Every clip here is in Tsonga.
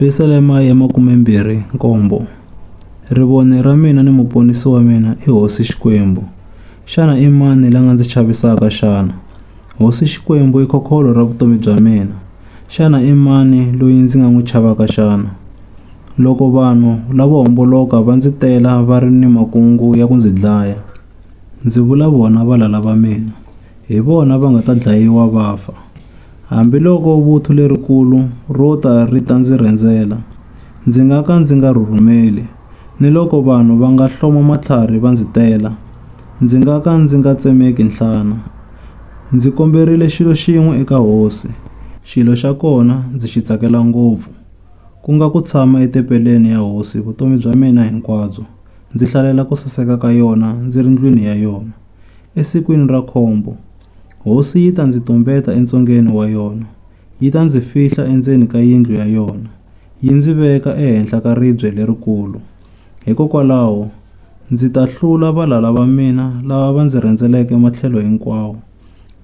Yerusalema ya makumembirhi nkombo, Rivoni ra mina ni muponisi wa mina i Hosi Xikwembu. Xana i mani la nga ndzi chavisaka xana? Hosi Xikwembu i khokholo ra vutomi bya mina. Xana i mani loyi ndzi nga n'wi chavaka xana? Loko vanhu lavo homboloka va ndzi tela va ri ni makungu ya ku ndzi dlaya, ndzi vula vona valala va mina, hi vona va nga ta dlayiwa va fa. Hambiloko vuthu lerikulu ro ta ri ta ndzi rhendzela, ndzi nga ka ndzi nga rhurhumeli, niloko vanhu va nga hloma matlhari va ndzi tela, ndzi nga ka ndzi nga tsemeki nhlana. Ndzi komberile xilo xin'we eka Hosi, xilo xa kona ndzi xi tsakela ngopfu, ku nga ku tshama etempeleni ya Hosi vutomi bya mina hinkwabyo, ndzi hlalela ku saseka ka yona ndzi ri ndlwini ya yona. Esikwini ra khombo, hosi yi ta ndzi tumbeta entsungeni wa yona, yi ta ndzi fihla endzeni ka yindlu ya yona, yi ndzi veka ehenhla ka ribye lerikulu. Hikokwalaho, ndzi ta hlula valala va mina lava va ndzi rhendzeleke matlhelo hinkwawo.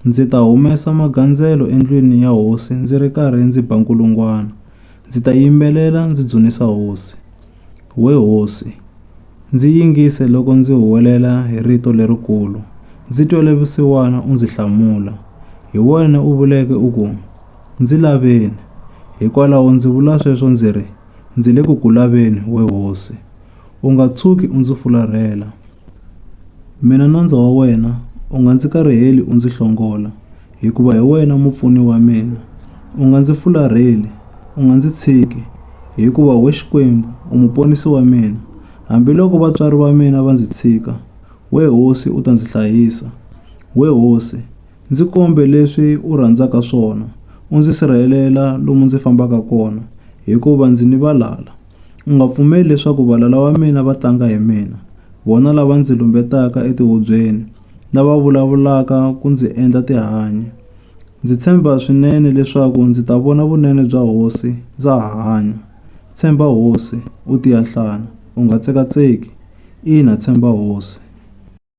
Ndzi ta humesa magandzelo endlwini ya hosi ndzi ri karhi ndzi ba nkulungwana, ndzi ta yimbelela ndzi dzunisa hosi. We hosi, ndzi yingise loko ndzi huwelela hi rito lerikulu, ndzi twele vusiwana u ndzi hlamula. Hi wena u vuleke u ku, Ndzi laveni. Hikwalaho ndzi vula sweswo ndzi ri, Ndzi le ku ku laveni, we hosi. U nga tshuki u ndzi fularhela. Mina nandza wa wena u nga ndzi kariheli u ndzi hlongola. hikuva hi wena mupfuni wa mina. U nga ndzi fularheli, u nga ndzi tshiki, hikuva wena Xikwembu u muponisi wa mina. Hambiloko vatswari va mina va ndzi tshika, wena Hosi u ta ndzi hlayisa. Wena Hosi, ndzi kombe leswi u rhandzaka swona, u ndzi sirhelela lomu ndzi fambaka kona, hikuva ndzi ni valala. U nga pfumeli leswaku valala va mina va tlanga hi mina, vona lava ndzi lumbetaka etihubyeni, lava vulavulaka ku ndzi endla tihanyi. Ndzi tshemba swinene leswaku ndzi ta vona vunene bya hosi ndza ha hanya. Tshemba hosi, u tiya nhlana, u nga tsekatseki. Ina, tshemba hosi.